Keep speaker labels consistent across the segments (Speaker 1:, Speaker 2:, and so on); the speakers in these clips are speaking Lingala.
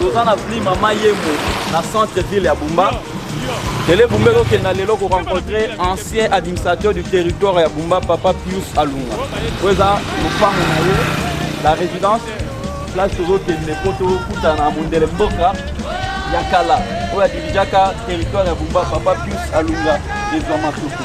Speaker 1: toza na vli mama yemo na centre ville ya bumba tele bumba ezokenda lelo korencontre ancien administrateur du territoire ya bumba papa pius alunga oyo eza lopango na ye la résidence place tozokende mpo tokutana na mondele mboka ya kala oyo adirijaka territoire ya bumba papa pius alunga ezwa matuku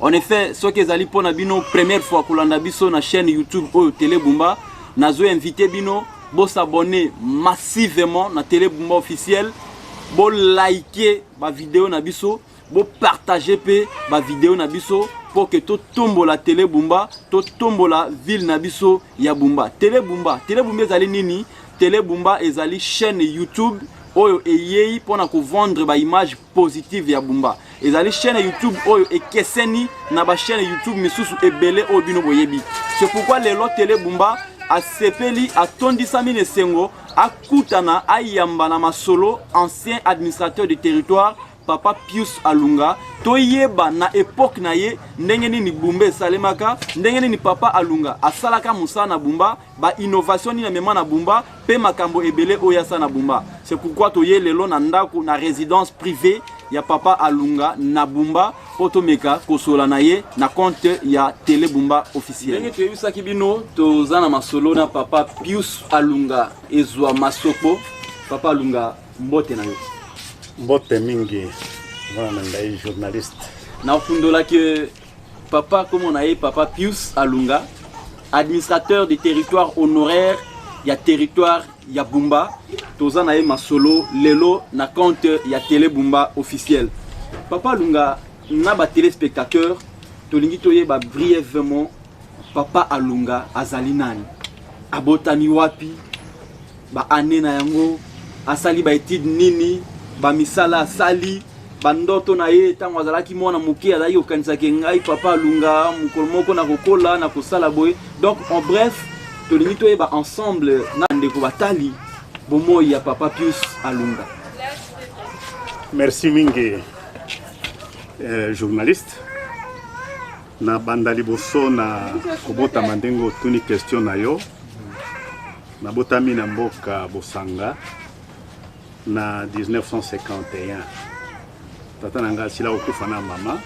Speaker 1: En effet, soki ezali mpo na bino première fois kolanda biso na chaîne YouTube oyo Tele Bumba, nazo invite bino bo s'abonner massivement na Tele Bumba officiel, bo liker ba vidéo na biso, bo partager pe ba vidéo na biso mpo ke totombola tele bumba totombola ville na biso ya bumba tele bumba tele bumba ezali nini tele bumba ezali chaîne youtube oyo eyei mpo na kovendre baimage positive ya bumba ezali chaîne youtube oyo ekeseni na ba chaîne youtube misusu ebele oyo bino boyebi c'est pourquoi lelo tele bumba asepeli atondisami na esengo akutana ayamba na masolo ancien administrateur du territoire papa pius alunga toyeba na epoke na ye ndenge nini bumba esalemaka ndenge nini papa alunga asalaka mosala na bumba ba innovation nini amema na Bumba pe makambo ebele oyo asa na Bumba. C'est pourquoi toye lelo na ndako na residence privée ya papa Alunga na Bumba po tomeka kosola na ye na compte ya Tele Bumba officiel. Ndenge toyebisaki bino toza na masolo na papa Pius Alunga ezwa masoko. Papa Alunga mbote na yo. Mbote
Speaker 2: mingi mwana na ngai journaliste. Nakundolaki
Speaker 1: Papa kombo na ye papa Pius Alunga, administrateur du territoire honoraire ya territoire ya Bumba. Toza na ye masolo lelo na compte ya Tele Bumba officiel. Papa Alunga na ba téléspectateurs tolingi toyeba brièvement papa Alunga azali nani? Abotami wapi? Ba annees na yango, asali ba etudes nini, ba misala asali, ba ndoto na ye tango azalaki mwana moke azalaki kokanisa ke ngai papa alunga mokolo moko na kokola na kosala boye. Donc en bref, tolingi toyeba ensemble na ndeko batali bomoi ya papa Pius Alunga. Merci
Speaker 2: mingi euh, journaliste. Na banda liboso na kobotama ndenge otuni question na yo, nabotami na mboka Bosanga na 1951. Tata na ngai asila kokufa na mama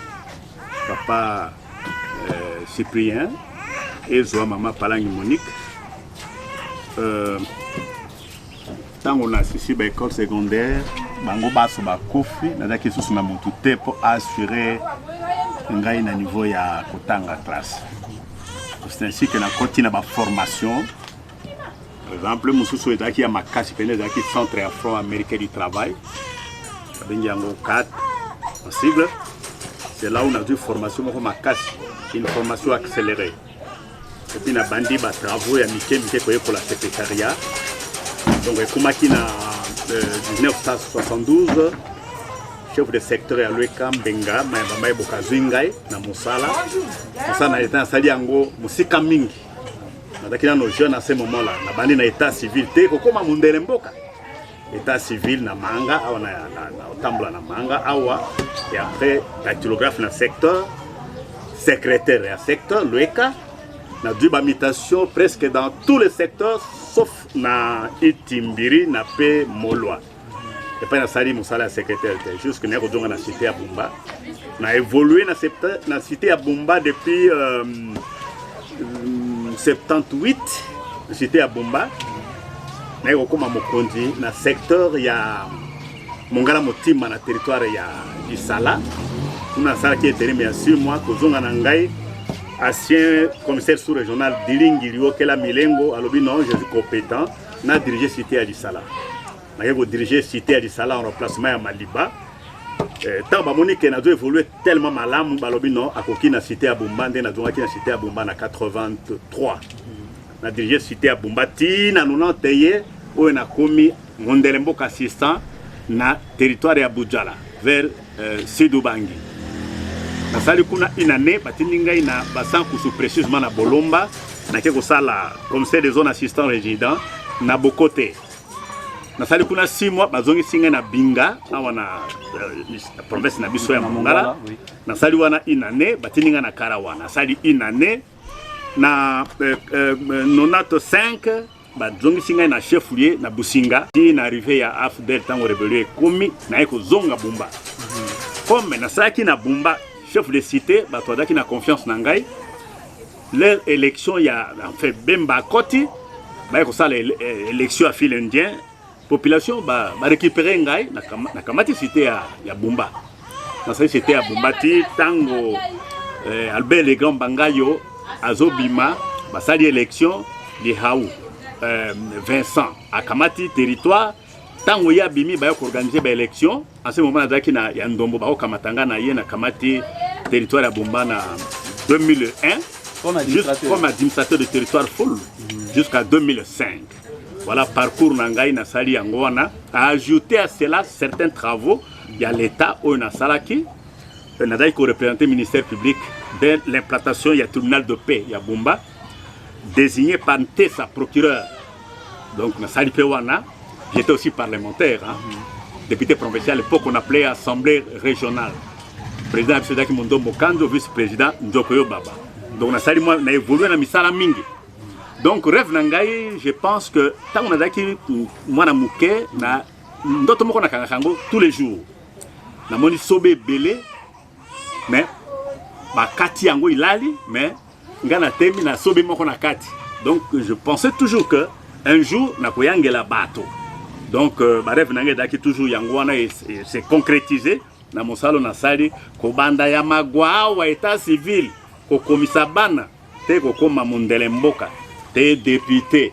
Speaker 2: papa euh, Cyprien ezwa mama Palangi Monique euh, ntango nasisi ba école secondaire bango baso bakufi nazalaki lisusu na motu te mpo assurer ngai na niveau ya kotanga classe c'est ainsi que nakoti na baformation par exemple mosusu ezalaki ya makasi mpene ezalaki centre ya front américain du travail babengi yango cat en sigle c'est là où nazwi formation moko makasi une formation accélérée epuis nabandi ba travaux ya mike mike koyekola secretariat donc ekomaki na 1972 euh, chef de secteur ya lweka mbenga mayamba maye bokazwi ngai na mosala mosala na leta nasali yango mosika mingi nazalaki nano jeune à ce moment là nabandi na état civil te kokóma mondele mboka etat civil na manga awa na otambola na manga awa et après dactylographe na secteur secrétaire ya secteur lueka nazwi bamitation presque dans tous les secteurs sauf na itimbiri na mpe molwa epai nasali mosala ya secrétaire te jusque naye kozonga na cité ya bumba na évolue na cité ya bumba depuis euh, 78 j'étais à Bomba naye kokoma mokonzi na secteur ya mongala motima na territoire ya Isala kuna asalaki eteleme ya 6 mois kozonga na ngai ancien commissaire sous régional dilingi liokela milengo alobi non je suis compétent na dirige cité ya lisala naye ko diriger cité ya lisala en remplacement ya maliba eh, ntango bamoni ke nazo évolue tellement malamu balobi non akoki na cité ya bumba nde nazongaki na cité ya bumba na 83 na dirige cité ya bumba ti na 90 ye oyo nakomi mondele mboka assistant na territoire ya budjala vers euh, sud ubangi nasali kuna une année batindi ngai na basankusu précisement na bolomba nake kosala commissaire de zone assistant résident na bokote nasali kuna six mois bazongisi ngai na binga awa na euh, province na biso ya mongala nasali wana une année batindi ngai na kara wana nasali une année na euh, euh, nonato 5 bazongisi ngai na chef lieu na businga ti na arrive ya afdel ntango rebelio ekomi naye kozonga bumba comme nasalaki na bumba chef de cité bato bazalaki na confiance na ngai leur election ya enfin bemba akoti baye kosala eh, election ya fil indien population ba, ba récupérer ngai na kamati cité ya, ya bumba nasali cité ya bumba ti tango eh, albert le grand bangayo azobima basali election lihau eh, vincent akamati territoire ntango ye abimi baya koorganize baelection ase moma nazalaki na ya ndombo bakokamata nga na ye na kamati territoire ya bomba na 2001 comme administrateur de territoire full jusqu'à 2005 voilà parcours na ngai nasali yango wana a ajouter à cela certains travaux ya l'état oyo nasalaki nazalaki korepresente ministère public de l'implantation ya tribunal de paix ya bomba désigné par Ntesa procureur. Donc, na sali Pewana, j'étais aussi parlementaire, hein, député provincial, à l'époque on appelait assemblée régionale. Président Absedaki Mondo Mokando, vice-président Ndokoyo Baba. Donc, na sali moi, na évolué na misala mingi. Donc, rêve na ngai, je pense que tant on a daki mwana muke na ndoto moko na kanga kango tous les jours. Na moni sobe belé mais bakati yango ilali mais nga na temi na sobe moko na kati donc je pensais toujours que un jour nakoyangela bato donc euh, bareve na ngai edaki toujours yango wana se concrétise na mosalo nasali kobanda ya magwa awa etat civil kokomisa bana te kokoma mondele mboka te depute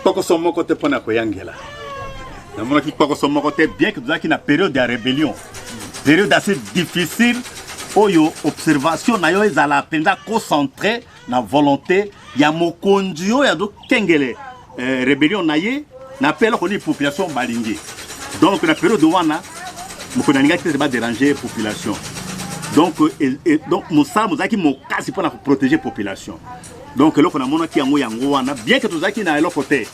Speaker 2: kpokoso moko te mpo na koyangela namonaki kpokoso moko te bien ke tozalaki na periode ya rébellion periode assez difficile oyo observation na yo ezala mpenza concentre na volonté ya mokonzi oyo azokengele eh, rébellion na ye na mpe eloko nini population balingi donc na periode wana mokonzi alingaki te te baderange population donc, e, e, donc mosala mozalaki mokasi mpo na koprotege population donc eloko namonaki yango yango wana bien que tozalaki na eloko te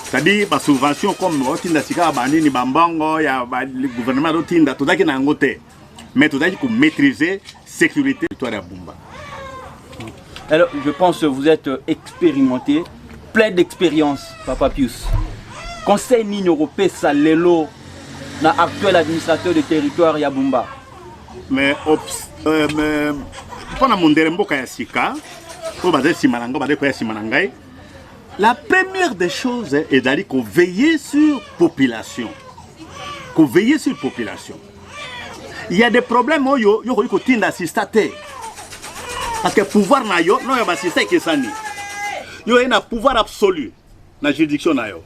Speaker 2: c'est-à-dire basubvention comme otinda sika banini bambongo ya gouvernement azotinda tozalaki na yango te mais tozalaki komaîtrise sécurité territoire ya bumba
Speaker 1: alors je pense que vous êtes expérimenté plein d'expérience papa pius conseil nini okopesa lelo na actuel administrateur de territoire ya bumba mais
Speaker 2: ops euh, mais mpo na mondele mboka ya sika oyo bazali nsima na ngai bazali koya nsima na ngai la première des choses ezali koveille sur population koveille sur population il y a des problèmes oyo yo okoki kotinda asista te parce que pouvoir na yo na oyo basista ekesani yo oye na pouvoir absolu na juridiction na yo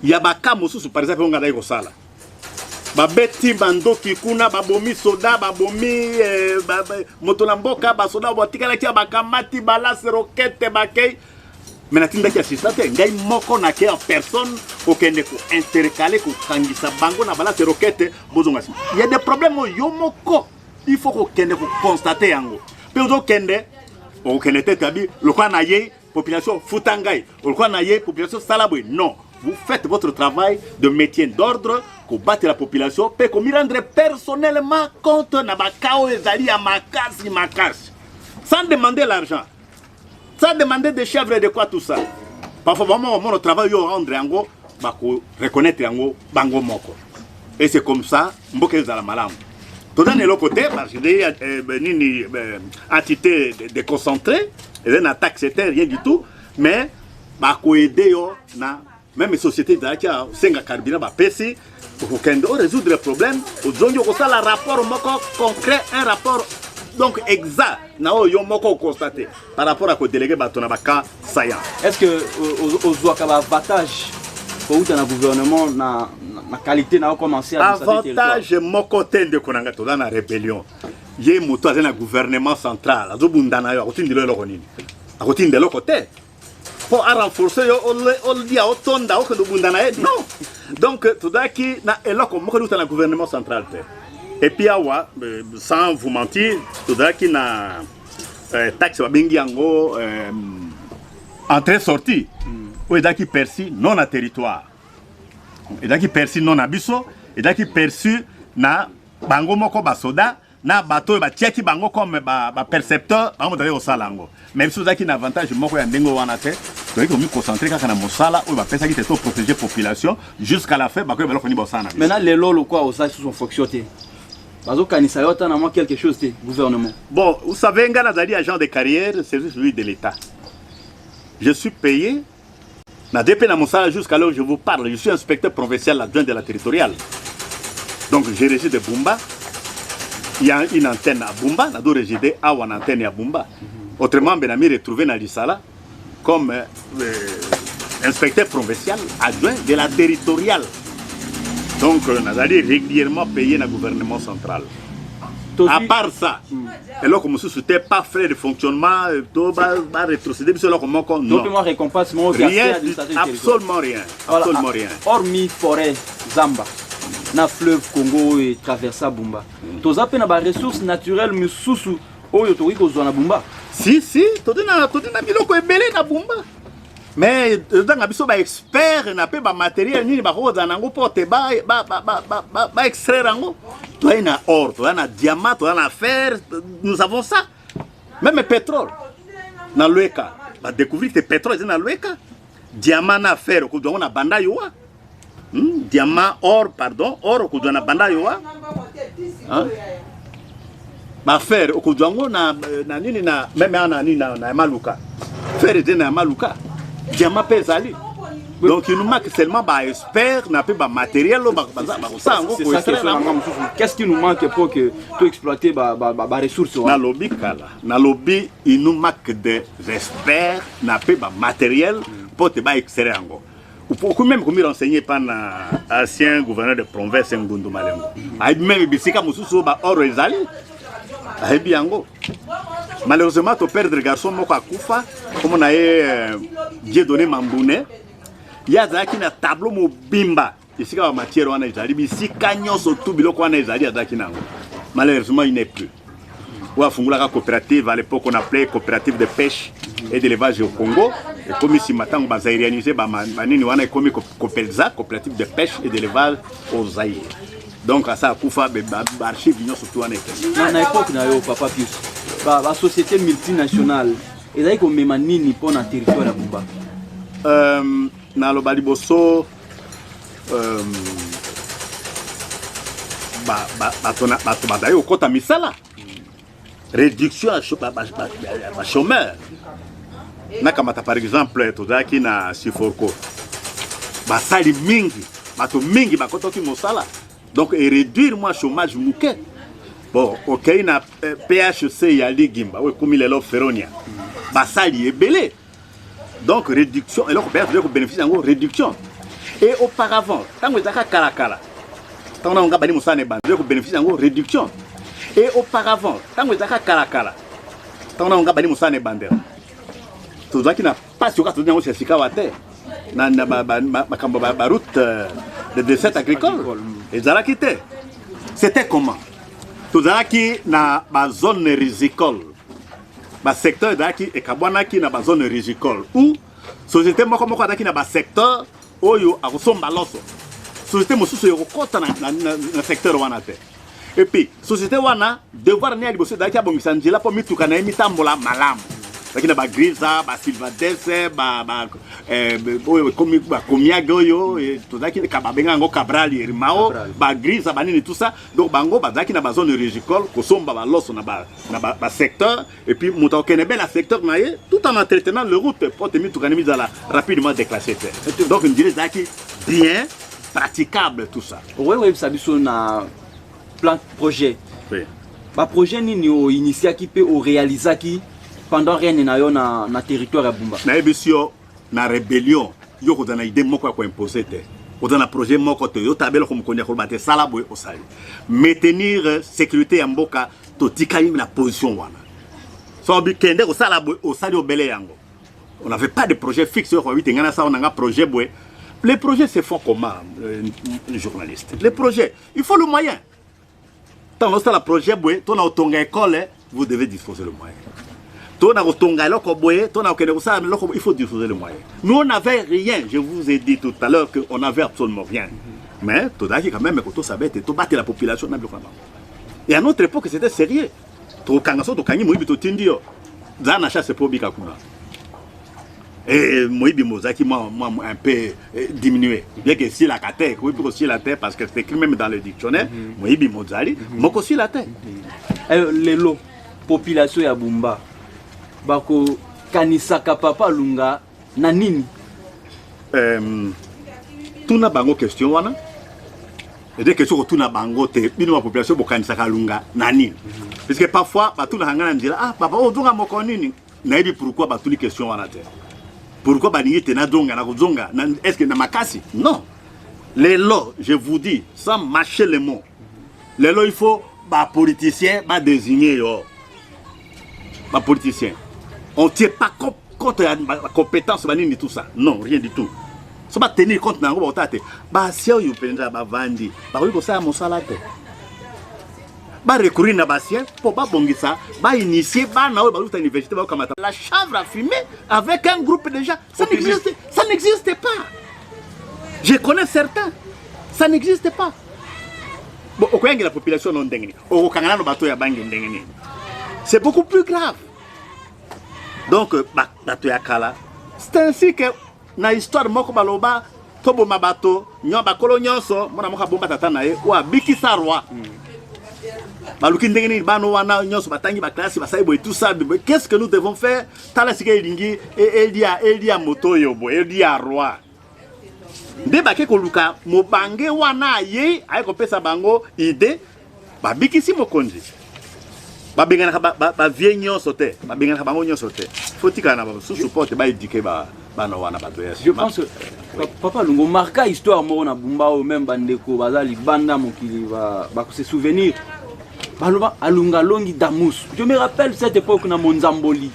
Speaker 2: ya baka mosusu par exemple oyo ngai nayaki kosala babeti bandoki kuna babomi soda babomi eh, ba, ba, moto na mboka basoda batikalaki ya bakamati balase rokete bakei me natindaki asista te ngai moko nake en personne kokende kointercale kokangisa bango na balase rokete bozonga sima ya de problème oyo yo moko il faut kokende kokonstate yango mpe ozokende okokende te tabi lokola na yei population futa ngai olikuwa na ye population sala boye non vous faites votre travail de métier d'ordre kobatela population mpe komirendre personnellement compte na baka oyo ezali ya makasi makasi sans demander l'argent sans demander de chèvre de quoi tout ça parfois vraiment omona travail yo rendre yango bako reconnaître yango bango moko et c'est comme ça mboka ezala malamu toza na eloko te parce que eh, eh, nini eh, entité déconcentré eza na taxe te rien du tout mais bakoede yo na meme société ezalaki asenga carburant bapesi okokende o résoudre problème ozongi okosala rapport moko concret un rapport donc exact na oyo yo moko okonstate par rapport à ko déléguer bato na ba cas saillant. Est-ce que
Speaker 1: ozwaka ba avantage kowuta na gouvernement na, na qualité na okomanse avantage moko
Speaker 2: te ndeko na ngai toza na rébellion ye moto aza na gouvernement central azobunda na yo akotindela eloko nini akotinda eloko te mpo arenforce yo olia otonda okende obunda na ye non donc tozalaki na eloko moko liuta na gouvernement central te epuis awa euh, sans vous mentir tozalaki na eh, taxe babengi yango eh, entrée sortie mm. oyo ezalaki perçu non na territoire ezalaki perçu non na biso ezalaki perçu na bango moko basoda na bato oyo batiaki bango comme bapercepteur bango bazalaki kosala yango mais biso tozalaki na avantage moko ya ndenge wana te toyei komiconcentre kaka na mosala oyo bapesaki te to protéger population jusqu'à la fin bakoyeba eloko nini baosala na biso maintenant lelo lokwa
Speaker 1: osala susu fonction te bazokanisa yo ata na mwa quelque chose te gouvernement bon vous savez
Speaker 2: ngai nazali agent de carrière service public de l'état je suis payé nazali mpe na mosala jusqu'à l'heure je vous parle je suis inspecteur provincial adjoint de la territoriale donc je régis de bumba il y a une antenne à bumba nado régide awa na antenne ya bumba autrement mbe na mi retrouve na lisala comme euh, inspecteur provincial adjoint de la territoriale. Donc, euh, nazali régulièrement payé na gouvernement central. À part ça, hmm. eloko mosusu te pas frais de fonctionnement euh, to barétrocédé biso eloko moko récompense rien absolument rien absolument rien hormis forêt
Speaker 1: zamba na fleuve congo oyo etraversa bumba hmm. toza mpe na baressource naturelle mosusu oyo tokoki kozwa na bumba si si todi
Speaker 2: na todi na biloko ebele na bumba mais ezotanga biso baexpert na mpe bamateriel nini bakoki kozala na yango mpo te baextraire yango toyai na or toya na diamant toya na fer nous avons ça meme pétrole na lweka badécouvrir te pétrole eza na lweka diamant na fer okozwa yango na banda yowa Hmm? Diamant, or, pardon, or okudwa na banda yo wa. Hein? Ba fer okudwa ngo na na nini na même na nini na, na maluka. Fer ete na maluka. Diamant pe ezali. donc il nous manque seulement baexpert na mpe bamateriel oyo bakosala yango qu'est-ce qui
Speaker 1: nous manque pour que toexploite baressource wana nalobi kala
Speaker 2: nalobi il nous manque des experts na mpe bamateriel mpo te baextraire yango Vous pouvez même me renseigner par l'ancien gouverneur de province Ngundu Malengo. Ayebi même bisika mosusu oyo baoro ezali ayebi yango. Malheureusement to perdre garçon moko akufa kombo na ye euh, Dieu donné Mambune ye azalaki na tableau mobimba esika ba matière wana ezali bisika nyonso tu biloko wana ezali azalaki na yango malheureusement il n'est plus oyo afungolaka coopérative à l'époque on appelait coopérative de pêche et d'élevage au Congo ekomi nsima ntango bazairianise banini wana ekomi copelza coopérative de pêche et d'élevage au Zaïre donc asa akufa baarchive nyonso tu wana ekende na époque na yo papa
Speaker 1: pius basociété multinationale ezali komema nini mpo na territoire ya bumba euh,
Speaker 2: naloba liboso bato bazali kokɔta misala réduction ya bachômeur nakamata par exemple tozalaki na siforco basali mingi bato mingi bakotaki mosala donc eréduire mwa chômage moke bon okei na phc ya ligimba oyo ekomi lelo feronia basali ebele Donc réduction eloko baya tozali kobeneficie yango réduction et auparavant ntango ezalaka kalakala ntango nango nga bani mosala na ebanda tozali kobeneficie yango réduction et auparavant ntango ezalaka kalakala ntango nango nga bani mosala na ebandela tozalaki na mpasi oyo kaka tozali yango sika sikawa te na makambo baroute euh, de desert agricole ezalaki te c'était comment tozalaki na bazone risicole Ba secteurs ezalaki ekabwanaki na ba zones rigicoles ou société moko moko azalaki na ba secteurs oyo akosomba loso société mosusu ekokota na, na, na, na secteur wana te epuis société wana devoir ne ya liboso ezalaki abongisa nzela mpo mituka na ye mitambola malamu ezalaki na bagriza basilvadese eh, oyo ekomi bakomiage oyo eh, tozalaki babenga yango cabral yerimao bagriza banini tout ça donc bango bazalaki na bazone rigicole kosomba baloso na na ba, ba secteur et puis moto akokende be na secteur na ye tout en entretenant le route mpo te mituka nde mizala rapidement déclassé te donc ndila ezalaki bien praticable
Speaker 1: tout ça
Speaker 2: okoki
Speaker 1: koyebisa biso na plan projet oui. baprojet nini oinitiaki mpe orealisaki pendant règne na yo na, na territoire ya bumba nayebisi yo
Speaker 2: na rébellion yo kozala na idée moko ya koimpose te oza na projet moko te yo tabela ko mokonzi ya koloba te sala boye osali maintenir sécurité ya mboka totikali na position wana so bikende kosala boye osali obele yango on n'avait pas de projet fixe oyo koyebite ngai nasala nanga projet boye les projets se font comment euh, journaliste les projets il faut le moyen ntango osala projet boye to na kotonga ekole vous devez disposer le moyen to na kotonga eloko boye to na kokende kosala eloko il faut disposer le moyen nous on n'avait rien je vous ai dit tout à l'heure que on n'avait absolument rien mais tozalaki quand même kotosa bete tobatela population na biloko na bango Et à notre époque, c'était sérieux. Tokanga so tokangi moyibi totindi yo. Za na chasse po bika kuna. Et moyibi mozaki moi moi un peu eh, diminué. Bien que si la kate, ko ko si la terre parce que c'est écrit même dans le dictionnaire, mhm. moyibi mozali, mhm. moko si la terre. Eh, lelo
Speaker 1: population ya Bumba bako kanisaka papa Lunga na nini um,
Speaker 2: tuna bango question wana ede question kotuna bango te bino ba population bokanisaka alunga na nini puisque parfois batunaka ngai na nzela ah papa ozonga oh, moko nini nayebi pourquoi batuni question wana te pourquoi balingi te nazonga nakozonga est ce que na makasi non lelo je vous dis sans mâcher les mots lelo il faut bapoliticien badesigne yo ba politiciens on tient pas compte compte ya compétence ba nini tout ça non rien du tout so ba tenir compte na yango bakotala te basien oyo mpenza bavandi bakoki kosala mosala te ba recourir na basien mpo babongisa ba initie bana oyo baluta université bakokamata la chambre à fumer avec un groupe déjà ça n'existe ça n'existe pas je connais certains ça n'existe pas bon okoyangela population no ndenge nini okokanga nano bato ya bange ndenge nini c'est beaucoup plus grave donc euh, bato ya kala c'est ainsi que na histoire moko baloba toboma bato nyo bakolo nyonso mwana moko abomba tata na ye oyo abikisa roi baluki ndenge nini bana wana nyonso batangi baklasi basali boye tout ça qu'est ce que nous devons faire tala sika elingi e, elia elia moto oyo boye elia roi nde bake koluka mobange wana ayei aye kopesa bango ide babikisi mokonzi babenganaka bavie ba, ba nyonso te babenganaka bango nyonso te fotikala na basusu mpo te baedike ba, bana wana bato ya je pense oui.
Speaker 1: papa lungo marka histoire moko na bumba oyo meme bandeko baza libanda mokili bakose ba souvenir baloba alunga longi damus je me rappelle cette époque na monzamboli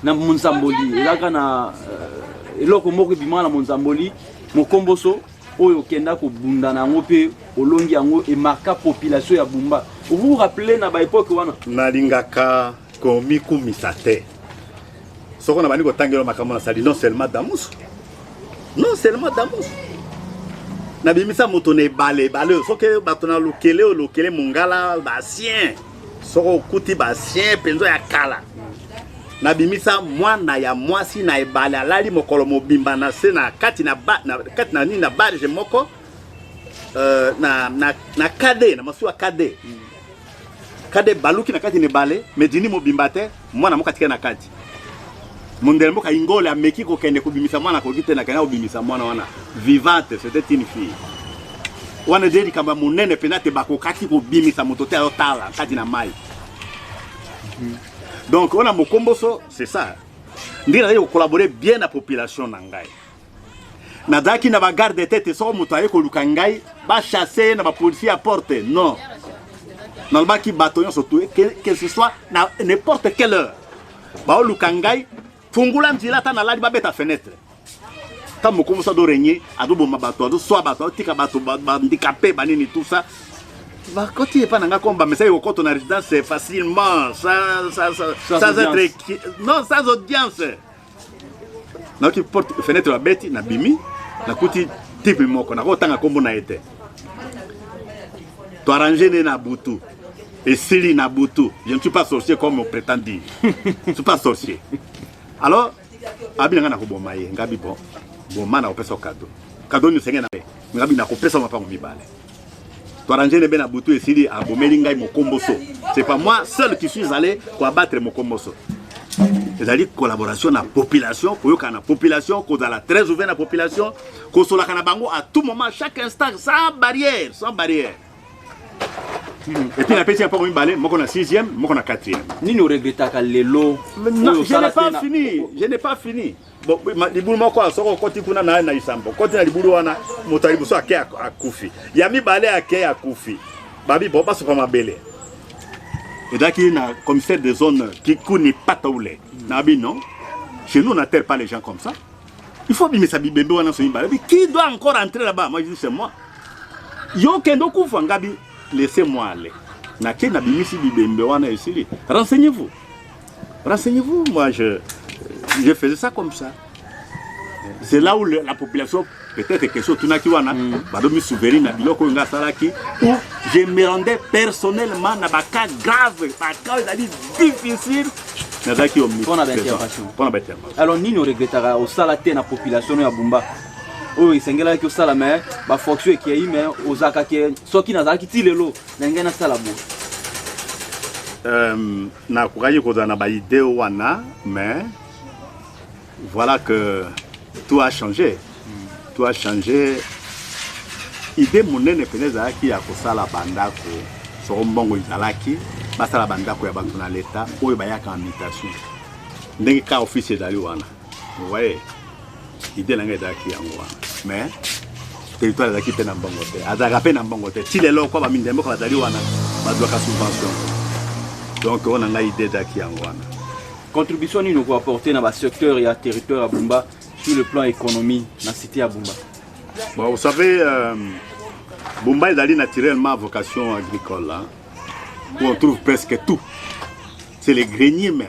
Speaker 1: na monzamboli ezalaka na euh, eloko moko ebimaka na monzamboli mokomboso oyo okenda kobunda na yango mpe olongi yango emarka population ya bumba vous rappele na baepoke wana nalingaka
Speaker 2: komikumisa te soko na bandi kotangela makambo nasali non seulement damusu non seulement damusu nabimisa moto na ebale ebale soki bato na lokele oyo lokele mongala basien soki okuti basien mpenza ya kala nabimisa mwana ya mwasi na ebale alali mokolo mobimba na se na kati na, ba, na, kati na nini na barge moko uh, na, na, na kade na masuwa kade kade baluki na kati na ebale medini mobimba te Mwana moko atikali na kati. Mondele mboka Ingole ameki kokende kobimisa mwana akoki te na kenda kobimisa mwana wana vivante c'était une fille. Wana nde likambo ya monene mpenza te bakokaki kobimisa moto te ayotala kati na mai. Donc wana mokomboso c'est ça. Ndenge nazali kokolabore bien na population na ngai. nazalaki na bagarde te te soko moto aye koluka ngai bachasse ye na bapolisier ya porte non nalobaki bato nyonso tue que ce soit na n'importe quelle heure baoluka ngai fungula nzela ata nalali babeta fenêtre ta mokomosi adorenye azoboma bato azoswa bato azotika bato bandikape banini tout ça bakoti epai na ngai koma bamesaki kokoto na résidence facilement sans être non sans audience nauti porte fenetre babeti nabimi nakuti tipe moko nakotanga nkombo na ye te toarrange nde na butu esili na butu je ne suis pas sorcier comme prétend dire je suis pas sorcier alors abi na ngai nakoboma ye ngabi bon boma nakopesa yo kado kado nini osenge na ye ngabi nakopesa mapango mibale Toarangele bena butu esili abomeli ngai mokomboso. C'est pas moi seul qui suis allé pour abattre mokomboso. ezali collaboration na population koyokana na population kozala très ouvert na population kosolaka na bango à tout moment chaque instant sans barrière sans barrière epuis napesi ya mpango mibale moko na 6e moko na 4e nini oregretaka
Speaker 1: lelo je n'ai pas
Speaker 2: fini je n'ai pas fini libulu moko wana soki okoti kuna naye na lisambo okoti na libulu wana moto ya liboso ake akufi ya mibale ake akufi babi bo basopa mabele ezalaki na commissaire de zone kikuni pataule na bino chez nous on n'attelle pas les gens comme ça il faut bimisa bibembe wana so mibale qui doit encore entrer là-bas moi je dis c'est moi yo kende okufa ngabi laissez moi aller nake nabimisi bibembe wana esili renseignez-vous Renseignez-vous, moi je, je faisais ça comme ça. C'est là où le, la population, peut-être que sur Tunaki Wana, mm. Badomi Souverain, Nabilo Konga Salaki, où je me rendais personnellement dans des cas graves, dans des cas d'avis difficiles. nazalaki omipona
Speaker 1: baintervention alors nini oregretaka osala te na population ya bumba oyo esengelaki osala me bafonction ekei me ozalaka ke soki nazalaki ti lelo na ngai nasala boye
Speaker 2: Nakokaki kozala na ba idee wana mais voilà que tout a changé tout a changé idee monene mpenza ezalaki ya kosala bandako soko mbongo ezalaki basala bandako ya bato na leta oyo bayaka en mutation ndenge ka office ezali wana Vous voyez, idée na ngai ezalaki yango wana mais territoire ezalaki mpe na mbongo te azalaka mpe na mbongo te ti lelo kwa bamindele mboka bazali wana bazwaka subvention donc oyo na ngai idée ezalaki yango wana contribution nini
Speaker 1: okoapporte na basecteur ya territoire ya bumba sur le plan économie na cité ya bumba bon, vous
Speaker 2: savez euh, bumba ezali naturellement vocation agricole hein, où on trouve presque tout c'est les greniers même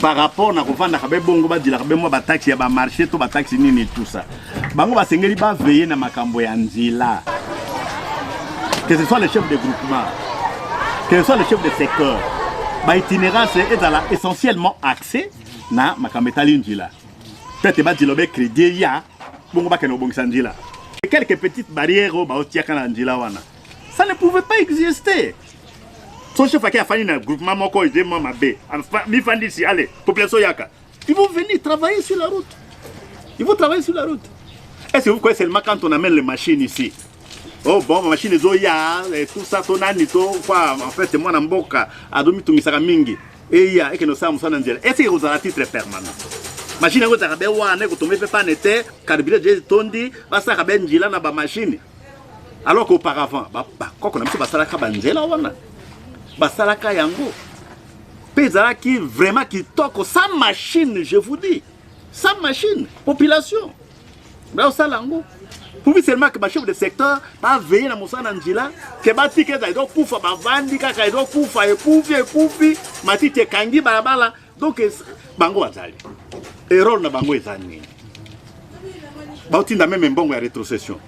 Speaker 2: par rapport na kovandaka be bongo badilaka be mwa bataxi ya bamarché to bataxi nini tusa bango basengeli baveye na makambo ya nzela que ce soit le chef de groupement que ce soit le chef de secteur baitinérance ezala essentiellement accès na makambo etali nzela peut-être badila be crédit ya bongo bakende kobongisa nzela quelques petites barrières oyo baotiaka na nzela wana ça ne pouvait pas exister son chef ake afandi na groupement moko ede mwa mabe mifandisi ale population yaka ils vont venir travailler sur la route ils vont travailler sur la route est ce que vous croyez seulement quand on amène les machines ici oh bon machine ezoya tout ça to nani to kwa en fait mwana mboka azomitungisaka mingi eya ekende osala mosala na nzela est ce que ekozala titre permanent mashini yango ezalaka be wana ekotonga mpe pane te karibira je etondi basalaka be njila na bamashini alors qu'auparavant bakoko na biso basalaka banzela wana basalaka yango mpe ezalaki vraiment kitoko sans machine je vous dis sans machine population baosala yango pubi seulement ke bachef de secteur baveye na mosala na njila ke batika ezali tokufa bavandi kaka ezokufa ekufi ekufi matiti ekangi balabala donc bango bazali erreur na bango eza nini baotinda meme mbongo ya retrocession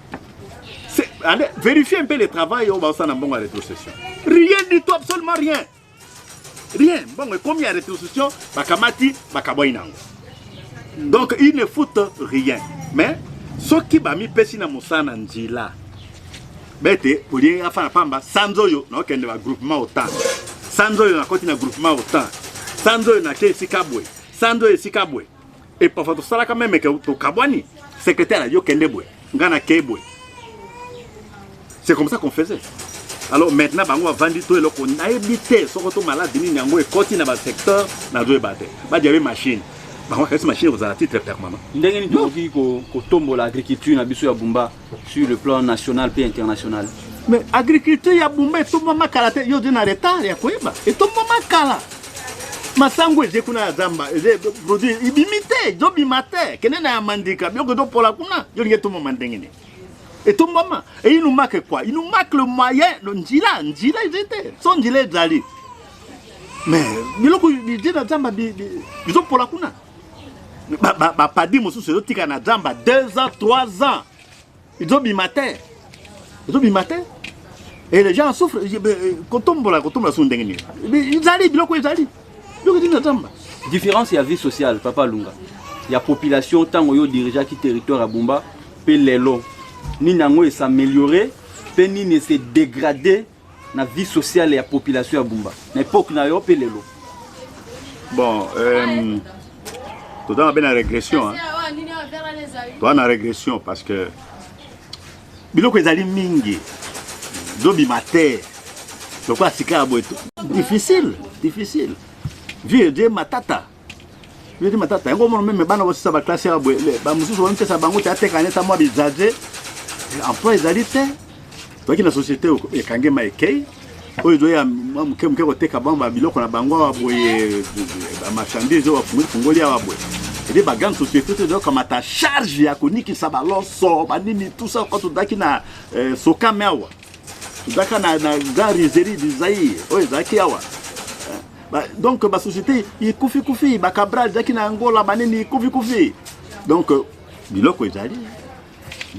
Speaker 2: allez vérifier un peu le travail oyo baosala na mbongo ya retrocession rien du tout absolument rien rien mbongo ekomi ya retrocession bakamati bakabwai nango donc il ne foute rien mais soki bamipesi na mosala na nzela bete olie afana pamba sanza oyo naokende ba groupement otan sanza oyo nakoti na groupement otan sanza oyo nake esika boye sanza oyo esika boye epafa tosalaka meme ke tokabwani secrétaire ayo kende boye ngai nakei boye c'est comme ça qu'on faisait alors maintenant bango bavandi to eloko nayebi te soko to maladi nini yango ekoti na basecteur nazoyeba te badiabe machine bango bakasi machine ekozala titre permanent ndenge nini tokoki
Speaker 1: kotombola agriculture na biso ya bumba sur le plan national mpe international mais agriculture
Speaker 2: ya bumba etombama kala te yo ode na retard ya koyeba etombama kala masango eze kuna ya zamba eze produit ibimi te ezobima te kende na ya mandika biloko ezopola kuna yo lingi etombama ndenge nini etombama et il nous manque quoi il nous manque le moyen le njila njila eze te so njila ezali mais biloko bije na zamba bizopola kuna bapadi mosusu ezotika na zamba 2 ans 3 ans ezobima te ezobima te et les gens souffrent euh, kotombola kotombola sou ndenge nini ezali biloko ezali biloko ezali na zamba
Speaker 1: différence ya vie sociale papa lunga ya population ntango yo dirigeaki territoire ya bumba mpe lelo nini yango esameliorer mpe nini ese degrader na vie sociale ya population ya Bumba na epoque na yo mpe lelo? Bon,
Speaker 2: euh, toza mabe na régression hein? toza na régression parce que biloko ezali mingi zobima te lokola sika ya boye difficile difficile vieux je matata yodi matata yango omona meme bana bosisa baklase ya boye bamosusu bamipesa bango te ateka neta mwa bizaze emploi ezali te toyaki na société ekange ma ekei oyo ezoya mwa moke moke koteka bango babiloko na bango awa boye bamarchandise oyo bafungoli fungoli awa boye ede bagrande société te ezokamata charge ya konikisa baloso banini tusa oyo tozalaki na eh, sokame awa Zaka na, na gare Izeri du Zaïre oyo ezalaki awa ba, donc basociété ikufikufi bakabral ezalaki na Angola banini ikufikufi donc biloko ezali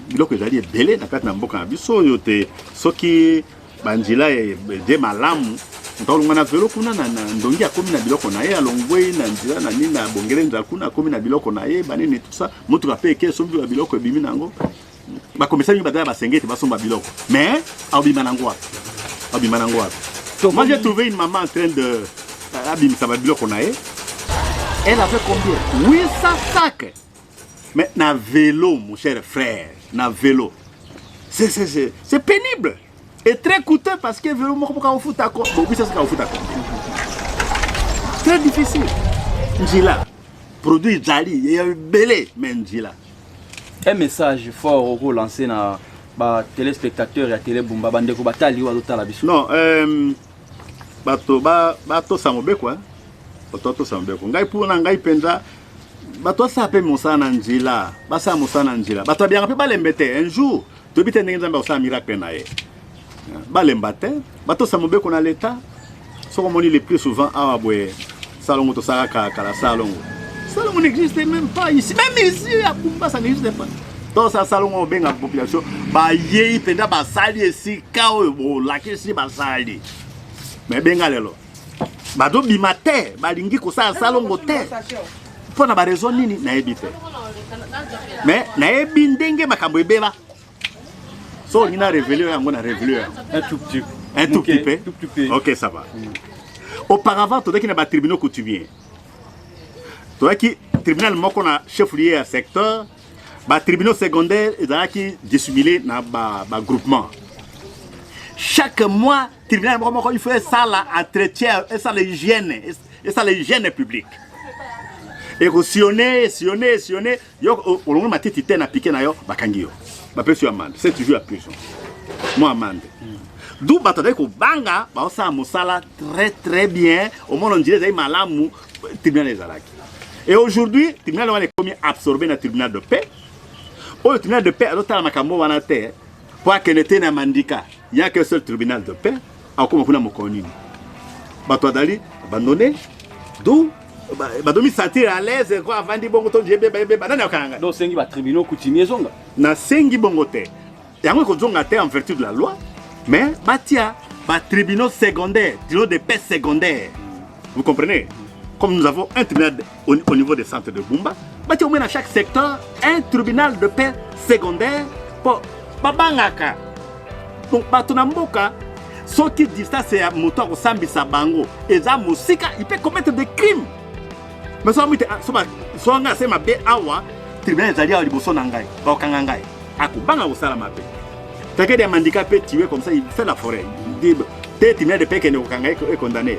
Speaker 2: biloko ezali ebele na kati na mboka na biso oyo te soki banzela ede malamu ntaolonga na velo kuna na, na ndongi akomi na biloko na ye alongwei na nzela na nini na bongele nzala kuna akomi na biloko na ye banini tusa motuka mpe eke soki biloko ebimi na yango bakomisaki badala basengete basomba biloko mais aobima nango wapi aobima nango wapi moi j'ai trouvé une maman en train de euh, abimisa babiloko na ye elle avait combien 800 sacs mais na velo mon cher frère na velo c'est pénible Et très coûteux parce que velo moko boka ofuta ko bobisa sika ofuta ko. Très difficile. Njila. Produit jali, il y a belé mais njila. Un
Speaker 1: message fort au go lancer na ba téléspectateurs ya télé Bumba bande ko batali wa tala biso. Non, euh
Speaker 2: bato ba bato sa mobeko hein. Bato to sa mobeko. Ngai pour na ngai penza bato asala mpe mosala na nzela basala mosala na nzela bato abiyaka mpe balembe te un jour Toyebi te ndenge Nzambe akosala miracle na ye. Balemba te, batosa mobeko na leta. Soko moni le plus souvent awa boye salongo tosalaka kala salongo. Salongo n'existe même pas ici. Même ici à Kumba ça n'existe pas. tosa salongo obenga population bayei mpenza basali esika oyo bolakisi basali me benga lelo bazobima te balingi kosala salongo te mpo na barezo nini nayebi te me nayebi ndenge makambo ebeba so olingi na revele yo yango na revele yo yango un tout petit
Speaker 1: un tout petit peu
Speaker 2: ok ça va mm. auparavant tozalaki na batribunaux coutumier tozalaki tribunal moko na chef lieu ya secteur batribunaux secondaire ezalaki dissimulé na bagroupement ba chaque mois tribunal moko moko il faut esala entretien esala hygiène esala hygiène publique ekosione esione esione yo olongo matiti te na pike na yo bakangi yo bapesi yo amande c'est toujours ya prison mwa amande du bato azali kobanga baosala mosala très très bien omona njila ezali malamu tribunal ezalaki et aujourd'hui tribunal wana ekomi absorbe na tribunal de paix oyo tribunal de paix azotala makambo wana te mpo akende te na mandika ya que seul tribunal de paix akoma kuna mokolo nini bato adali abandone du badomi sentir à l'aise ko avandi bongo to jebe bebe banani akanga donc sengi ba tribunaux
Speaker 1: coutumier ezonga na sengi bongo
Speaker 2: te yango ekozonga te en vertu de la loi mais batia ba tribunaux secondaires tribunaux de paix secondaires vous comprenez comme nous avons un tribunal au, au niveau des centres de Bumba, bati au moins dans chaque secteur un tribunal de paix secondaire pour babangaka. Donc bato na mboka soki distance ya moto akosambisa bango eza mosika, il peut commettre des crimes. Mais soki amite ah, soba soki ngai asema be awa tribunal ezali awa liboso na ngai bakokanga ngai akobanga kosala mabe. Takede ya mandika pe tiwe comme ça il fait la forêt. Dit te tribunal de paix kende kokanga ekondamne.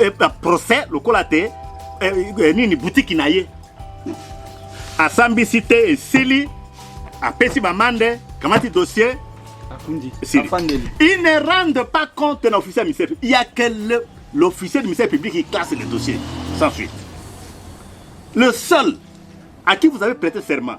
Speaker 2: eh, eh, procès lokola te eh, nini butiki na ye asambisi te esili apesi bamande kamati dossier il ne rende pas compte na officier ya ministère il y a que l'officier du ministère public qui classe le dossier sans suite le seul à qui vous avez prêté serment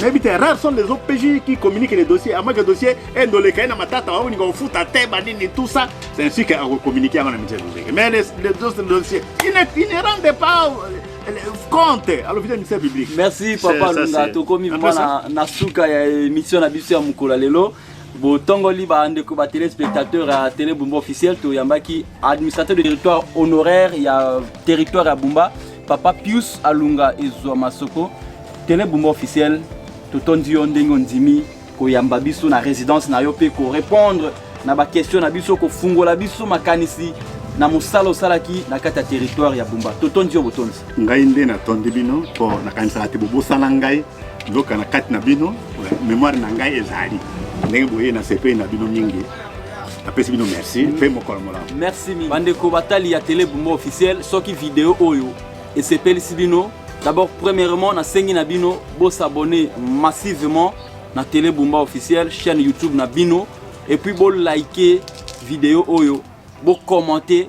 Speaker 2: nayebi te rare sont les opj qui communique les dossiers amaki ya dossier endoleka ye na matata baolinga kofuta te banini tout ça c'est ainsi que akocommunique yango na mitie lozeke mais les autres dossiers il ne rende pas euh, compte alors vita ministère public merci papa lunga
Speaker 1: tokomi mpo na suka ya émission na biso ya mokolo ya lelo botongoli ba ndeko ba téléspectateurs ya télé Bumba officiel toyambaki administrateur de territoire honoraire ya territoire ya Bumba papa Pius Alunga ezwa masoko télé Bumba officiel totondi yo ndenge ondimi koyamba biso na résidence na yo mpe korépondre na bakestion na biso kofungola biso makanisi na mosala osalaki na kati ya territoire ya Bumba totondi yo botondi ngai nde natondi
Speaker 2: bino mpo nakanisaka te bobosana ngai nzoka na kati na bino memoire na ngai ezali ndenge boye nasepeli na bino mingi napesi bino merci mpe mokolo molamu merci mingi bandeko
Speaker 1: batali ya tele bumba officiel soki video oyo esepelisi bino d'abord premièrement nasengi na bino bosabone massivement na tele bumba officiel chaîne youtube na bino et puis bolike video oyo bocommente